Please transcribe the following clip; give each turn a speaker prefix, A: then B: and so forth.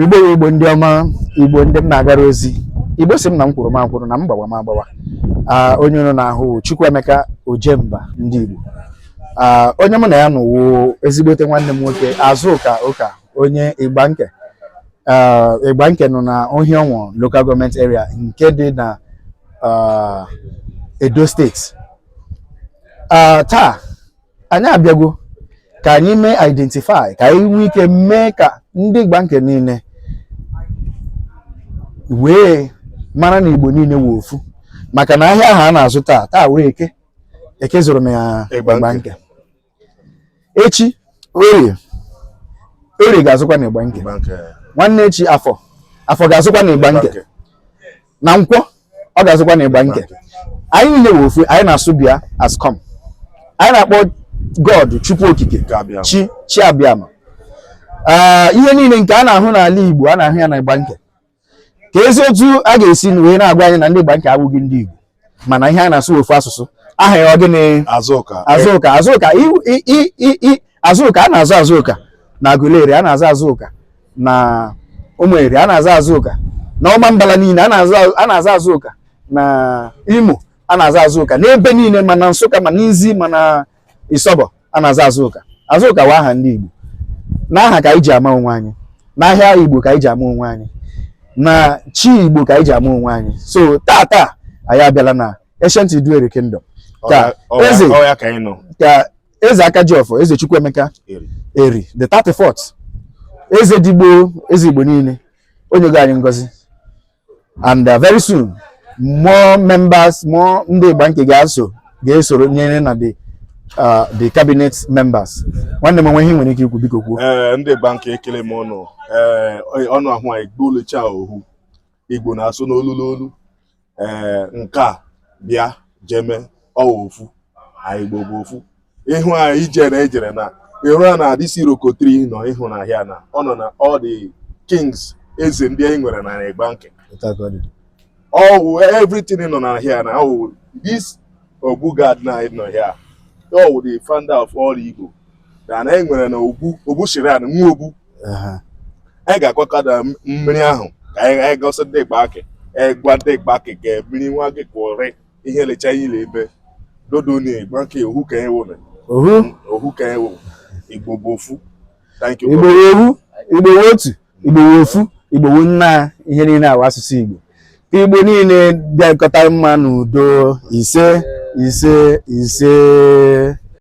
A: igbo ya igbo ndị ọma igbo ndị m na-agara ozi igbo sị m na m kwụrụ m akwụrụ na m gbawa m agbawa Ah, onye unu na-ahụ wụ Chukwuemeka Ojemba ndị Igbo Ah, onye mụ na ya nọ wụ ezigbote nwanne m nwoke Azụka Ụka onye Igbanke Ah, Igbanke nọ na Orhionmwon Local Government Area nke dị na ah, Edo Steeti Ah, taa anyị abịagwo ka anyị mee identify ka anyị nwee ike mee ka ndị Igbanke niile wee mara na igbo niile wụ ofu maka na ahịa ahụ a na-azụ taa taa wụ eke eke zụrụ na Igbanke. echi orie orie ga-azụkwa na Igbanke. nwanne echi afọ afọ ga-azụkwa na Igbanke. na nkwọ ọ ga-azụkwa na Igbanke anyị niile wụ ofu anyị na-asụ bịa as come anyị na-akpọ god chukwu okike chi chi abịama ah, ihe niile nke a na-ahụ n'ala igbo a na-ahụ ya na Igbanke keezi otu a ga-esi wee na-agwa anyị na ndị Igbanke abụghị ndị igbo mana ihe a na-asụ ofu asụsụ aha ya ọ gịnị azụka azụka azụka a na-aza Azụka na Aguleri a na-aza Azụka na ụmụeri a na-aza Azụka na Ọmambala niile a na-aza Azụka na Imo a na-aza Azụka n'ebe niile ma na nsụka ma n'izi ma na isọbọ a na-aza Azụka Azụka wụ aha ndị igbo na aha ka anyị ji ama onwe anyị n'ahịa igbo ka anyị ji ama onwe anyị na chi igbo ka anyị ji ama onwe anyị so taa taa anyị abịala na ancient Iduu Eri kingdom ka eze ka eze aka ji ọfọ eze Chukwuemeka eri the 34th eze Ndigbo eze Igbo niile o nyego anyị ngozi and uh, very soon more members more ndị Igbanke ga-aso ga-esoro nyere na the uh, the cabinet members nwanne m o nwee ihe i nwere ike ikwu biko kwuo eh, ndị Igbanke ekele
B: m ọnụ eh, ọnụ ahụ anyị gbuolucha ohu Igbo na-asụ n'olu n'olu ee nke a bịa jeme ọ wụ ofu anyị Igbo bụ ofu ịhụ anyị ijere ejere na ịhụ a na this iroko tree nọ ịhụ na ahịa na ọ nọ na all the kings eze ndị anyị nwere na Igbanke ọ wụ everything nọ na ahịa na ọ wụ this Obu Gad nọ here ọ wụ the founder of all Igbo na e nwere na ogbu ogbu shiran nwa ogbu anyị ga-agwakọta mmiri ahụ ka anyị gosi ndị Igbanke gwa ndị Igbanke ka mmiri nwa gị kụrị ihe lecha ihe ile ebe dodo na Igbanke ohu ka a wụ na ohu ka a wụ igbo bụ ofu igbo
A: ohu igbo otu igbo ofu igbo nnaa ihe niile a wụ asụsụ igbo ka igbo niile bịakọta mma n'udo ise ise ise